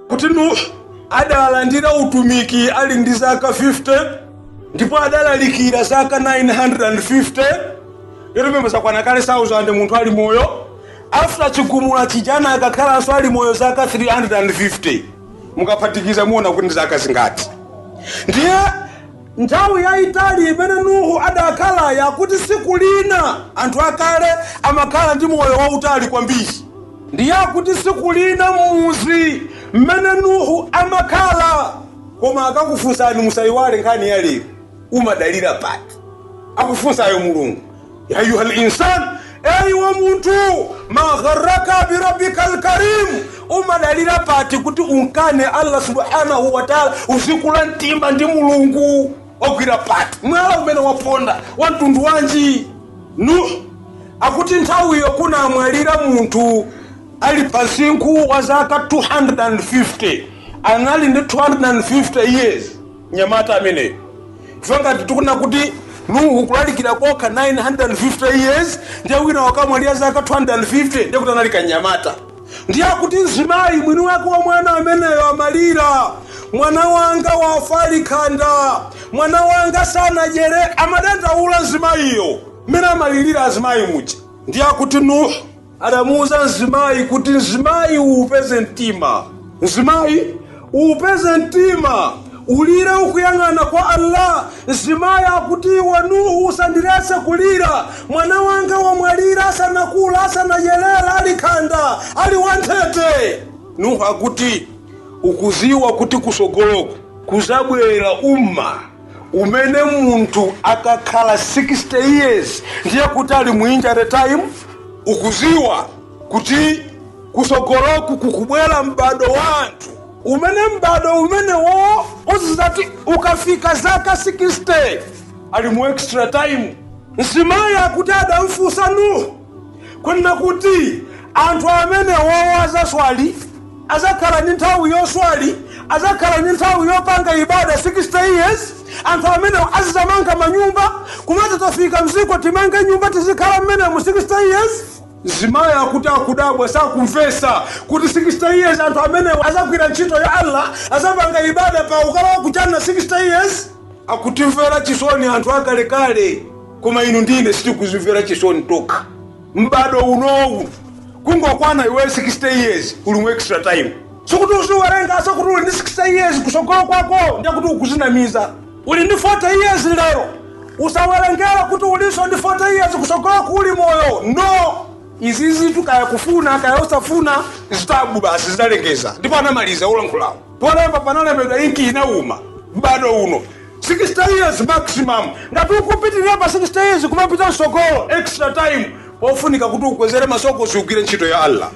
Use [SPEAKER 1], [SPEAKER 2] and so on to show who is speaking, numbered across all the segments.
[SPEAKER 1] kuti nuh adalandira utumiki ali ndi zaka 50 ndipo adalalikira zaka 950 ndiye pompo zakwana kale 1000 munthu ali moyo after chigumula chijana anakakhalanso ali moyo zaka 350 mukaphatikiza muona kuti ndi zaka zingati ndiye Nthawi yaitali imene Nuhu adakhalayi akuti tsiku lina anthu akale amakhala ndi moyo wautali kwambiri. Ndiye akuti tsiku lina m'mudzi m'mene Nuhu amakhala Koma akakufunsani musaiwale nkhani ya lero, umadalira pati? akufunsayo Mulungu. ya ayuha linsan iwe munthu magharaka birabika lkarimu umadalira pati kuti unkane allah subhanahu wataala uzikula mtima ndi mulungu wagwira pati mwala umene waponda wa mtundu wanji nuh akuti nthawiyo kunamwalira munthu ali pa sinkhu wa zaka 250 anali ndi 250 years mnyamata ameneyo ife ngati tikunena kuti nuhu kulalikira kokha 950 years ndiye wina wakamwalira zaka 250 ndiye kuti anali kanyamata ndiye akuti mzimayi mwini wake wa mwana ameneyo amalira mwana wanga wafa ali khanda mwana wanga sanadyere amadandaula mzimayiyo mmene amalirira azimayi muja ndiye akuti nuhu adamuuza mzimayi kuti mzimayi uupeze mtima mzimayi uupeze mtima ulire ukuyang'ana kwa allah mzimayi akuti iwe nuhu usandilese kulira mwana wanga wamwalira asanakula asanayelera ali khanda ali wanthete nuhu akuti ukuziwa kuti kusogoloku kuzabwera umma umene munthu akakhala 60 years ndiye kuti ali mu injury time ukuziwa kuti kusogoloku kukubwera m'bado wa anthu umene m'bado umenewo ukazati ukafika zaka 60 ali mu extra time mzimayiyo akuti adamfunsa nuhu kunena kuti anthu amenewowo azaswali azakhala ndi nthawi yoswali azakhala ndi nthawi yopanga ibada 60 years anthu amenewo azizamanga manyumba kumati tafika mziko timange nyumba tizikhala mmene mu 60 years mzimayi akuti akudabwa sakumvesa kuti 60 years anthu amenewo azagwira ntchito ya allah azapanga ibada pa kukhala kwa kachani 60 years akutimvera chisoni anthu akalekale koma inu ndi ine sitikuzimvera chisoni tekha m'bado unowu kungokwana iwe 60 years uli mu extra time sikuti uziwerenga masamu kuti uli ndi 60 years kusogolo kwako ndiye kuti ukuzinamiza uli ndi 40 years lero usawerengera kuti ulinso ndi 40 years kusogolo kuli moyo no izizitu kaya kufuna kaya usafuna vitabu basi zidalengeza ndipo anamaliza olankhulawo polemba panalembedwa kuti inki inauma m'bado uno 60 years maximum ngati ukupitirira pa 60 years kumapita msogolo extra time pofunika kuti ukwezere masoko uzigwire ntchito ya allah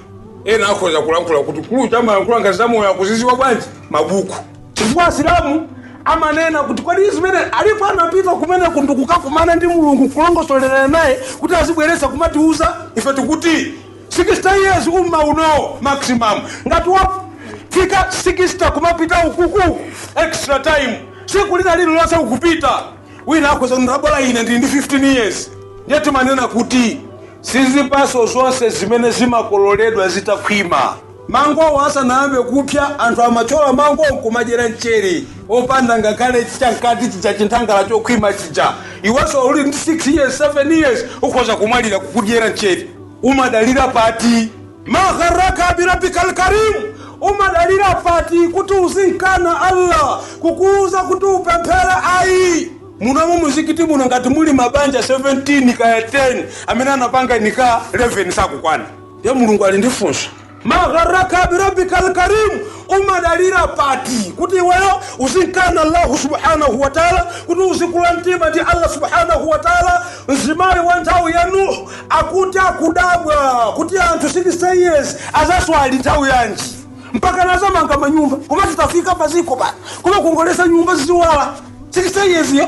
[SPEAKER 1] ena akhoza kulankhula kuti akuluwa amalankhula ngati zamoyo akuziziwa bwanji mabuku chifukwa asilamu amanena kuti kodi zimene alipo anapita kumene kuntu kukakumana ndi mulungu kulongosolerana naye kuti azibweretsa kumatiuza ife kuti 60 years umma uno maximum ngati wafika 60 kumapita ukuku extra time tsiku lina lililonse ukupita wina akhoza kuti bola ine ndili ndi 15 years ndiye timanena kuti sizipatso zonse zimene zimakololedwa zitakhwima mangowo asanayambe kupsya anthu amathyola mangowo nkumadyera mchere opanda ngakhale chamkati chija chinthangala chokhwima chija iwenso uli ndi 6 years 7 years ukhoza kumwalira kukudyera mchere umadalira pati ma gharraka birabbika alkarim umadalira pati kuti uzimkana allah kukuuza kuti upemphere ayi munomu muzikiti muno ngati muli mabanja 17 kaya 10 amene anapanga nikah 11 sakukwana ndiye mulungu ali ndi funso Ma gharraka bi rabbikal karim, umadalira pati kuti iweyo uzimkana Allahu subhanahu wa ta'ala, kuti uzikula mtima ndi Allah subhanahu wa ta'ala. Mzimayi wa nthawi ya Nuhu akuti akudabwa kuti anthu 60 years azaswali nthawi yanji mpaka nazamanga manyumba koma zitafika paziko pa kumakongolesa nyumba kuiwala 60 years yo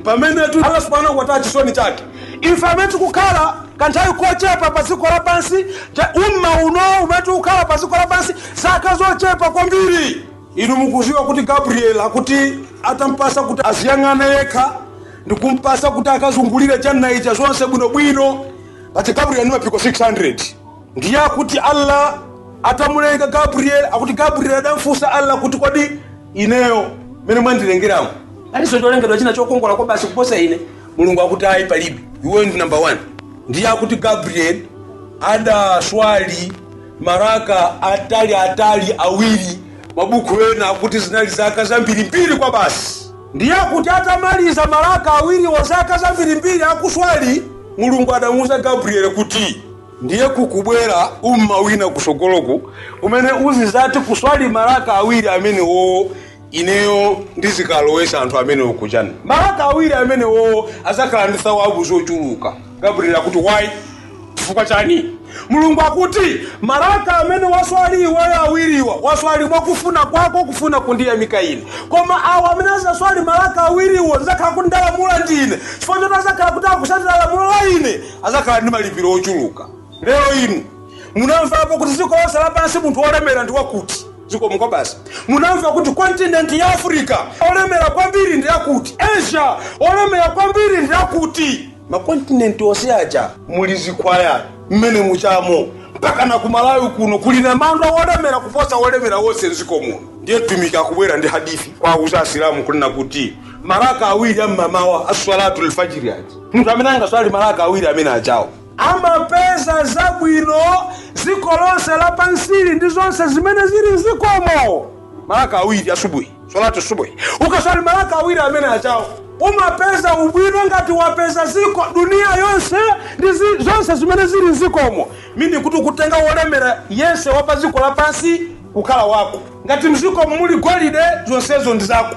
[SPEAKER 1] pamenetu allah subhanahu wataala chisoni chake ife amene tikukhala kanthawi kochepa pa dziko lapansi ta- umma uno umene tikukhala pa dziko lapansi zaka zochepa kwambiri inu mukuziwa kuti gabriel akuti atampasa kuti aziyang'ana yekha ndikumpasa kuti akazungulire janna ija zonse bwinobwino pati gabriel ndi mapiko 600 ndiye akuti Allah atamulenga Gabriel, akuti Gabriel adamfunsa Allah kuti kodi ineyo mene mwandilengeramo palinso cholengedwa china chokongola kwabasi kuposa ine? Mulungu akuti ayi, palibe, iweyo ndi namba 1. Ndiye akuti Gabriel adaswali maraka atali atali awiri, mabuku ena akuti zinali zaka zambirimbiri kwabasi. Ndiye akuti atamaliza maraka awiriwo zaka zambirimbiri akuswali, Mulungu adamuuza Gabriel kuti ndiye kukubwera umma wina kusogoloku umene uzizati kuswali malaka awiri amenewowo ineyo ndizikalowesa anthu amenewo ku jannah malaka awiri amenewowo azakhala ndi thawabu zochuluka gabriel akuti why chifukwa chani mulungu akuti malaka amene waswali iweyo awiriwa waswali mwakufuna kwako kufuna kundiyamika ine koma awo amene azaswali malaka awiriwo ndizakhala kuti ndalamula ndine chifukwa choti azakhala kuti akusatira lamulo la ine adzakhala ndi malipiro ochuluka lero inu munamvapo kuti dziko lonse lapansi munthu wolemera ndi wakuti dziko muno basi munamva kuti kontinenti ya africa olemera kwambiri ndi yakuti asia olemera kwambiri ndi yakuti makontinenti onse aja muli zikhwaya mmene mujamo mpaka na kumalawi kuno kuli namandwa wolemera kuposa wolemera wonse mdziko muno ndiye mtumiki akubwera ndi hadithi kuwauza asilamu kunena kuti maraka awiri am'mamawa aswalatu lfajiri aja munthu amene angaswali malaka awiri amene ajawo amapeza zabwino dziko lonse lapansili ndi zonse zimene zili mzikomo malaka awiri asubuhi solati subuhi ukaswali malaka awiri amene ajawo umapeza ubwino ngati wapeza ziko dunia yonse ndi zi- zonse zimene zili mzikomo meaning kuti kutenga wolemera yense wapa dziko lapansi kukhala wako ngati mzikomo muli golide zonsezo ndi zako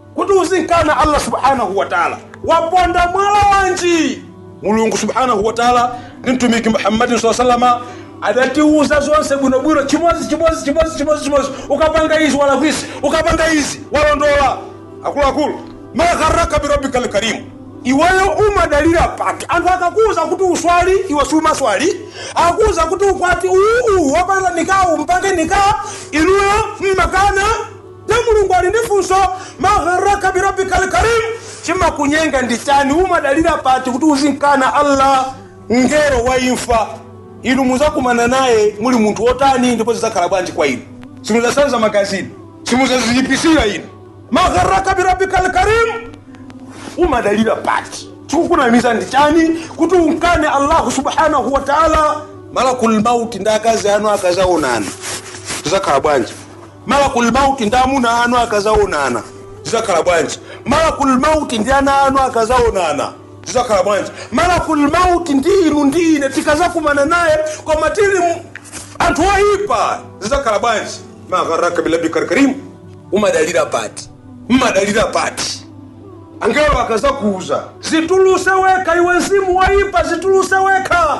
[SPEAKER 1] kuti uzimkana allah subhanahu wataala waponda mwala wanji mulungu subhanahu wataala ndi mtumiki muhammadin saa salama adatiuza zonse bwinobwino chimodzi chimodzi chimodzi chimodzi chimodzi ukapanga izi walakwisa ukapanga izi walondola akuluakulu ma gharraka birabbika lkarimu iweyo umadalira pati anthu akakuuza kuti uswali iwe siumaswali akakuuza kuti ukwati uwu uwu wapanga nikah mpange nikah inuyo mmakana Nde Mulungu ali ndi funso, ma gharraka bi rabbikal karim, chimakunyenga ndi chani? Umadalira pati kuti uzimkana Allah, mngelo wa imfa? Inu muzakumana naye muli munthu wotani ndipo zizakhala bwanji kwa inu? Simuzasanza magazi inu, simuzaziyipisira inu. Ma gharraka bi rabbikal karim, umadalira pati chikukunamiza ndi chani kuti umkane allahu subhanahu wa taala malakul mauti ndi akazi anu akazaonana zizakhala bwanji Malakul Maut ndi amuna anu akazaonana zizakhala bwanji? Malakul Maut ndi ana anu akazaonana zizakhala bwanji? Malakul Maut ndi inu ndi ine tikazakumana naye koma tili mu- anthu oyipa zizakhala bwanji? Ma gharraka bi rabbikal karim, umadalira pati? Mmadalira pati? Angelo akazakuuza zituluse wekha, iwe mzimu woyipa zituluse wekha.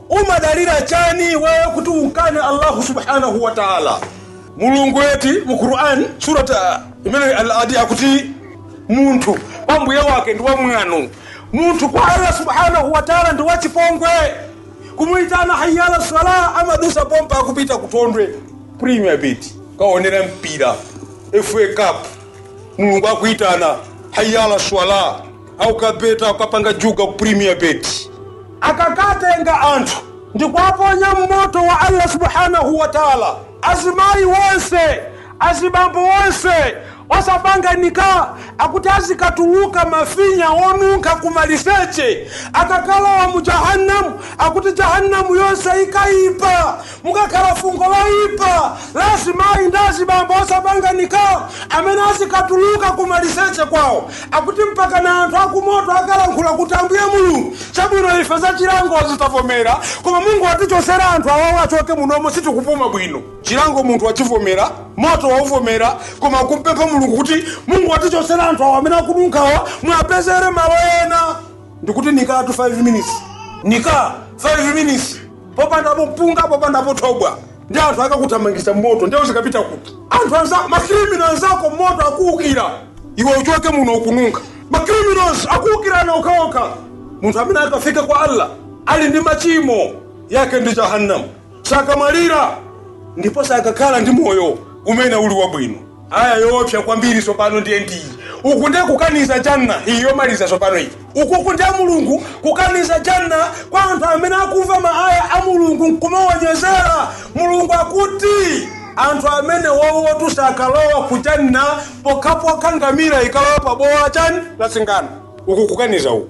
[SPEAKER 1] Umadalira chani iweyo kuti umkane Allahu subhanahu wa ta'ala? Mulungu ati mu Qur'an surat al-adiyat akuti munthu kwa mbuye wake ndi wamwano, munthu kwa Allah subhanahu wa ta'ala ndi wachipongwe. Kumuitana hayya ala sala amadusa pompa akupita kutondwe Premier Bet kukaonera mpira FA Cup, Mulungu akuitana hayya ala sala akukabetcha akukapanga juga ku premier bet akakatenga anthu ndikuwaponya m'moto wa allah subhanahu wa taala azimayi wonse azibambo wonse osapanga nika akuti azikatuluka mafinya onunkha kumaliseche akakalowa mu jahannamu akuti jahannamu yonse ikayipa Mukakhala fungo loipa la azimai ndi azibambo osapanga Nikaa amene azikatuluka ku maliseche kwao, akuti mpakana anthu a ku moto akalankhula kuti Ambuye Mulungu chabwino ife zachilangozi tavomera koma mungotichotsera anthu awawa achoke munomo sitikupuma bwino. Chilango munthu wachivomera, moto wauvomera koma ukumpempha Mulungu kuti mungotichotsera anthu awa amene akununkhawa muwapezere malo ena. Ndikuti Nikaatu 5 minutes, Nikaa 5 minutes. popandapo mpunga popandapo thobwa ndi anthu akakuthamangitsa m'moto ndiye uzikapita kuti anthu makrimino anzako m'moto akuukira iwe uchoke muno ukununkha makriminols akuukirana okhaokha munthu amene akafike kwa allah ali ndi machimo yake ndi jahannamu sakamwalira ndipo sakakhala ndi moyo umene uli wabwino Ayah yoopsa kwambiri tsopano ndiye ndi iyi. Uku ndiye kukaniza Jannah iyi yomaliza tsopano iyi. Ukuku ndiye Mulungu kukaniza Jannah kwa anthu amene akumva ma ayah a Mulungu nkumawanyozera. Mulungu akuti anthu amenewowotu sakalowa ku Jannah pokhapokha ngamira ikalowa pabowo la chani la singano. Uku kukaniza uku.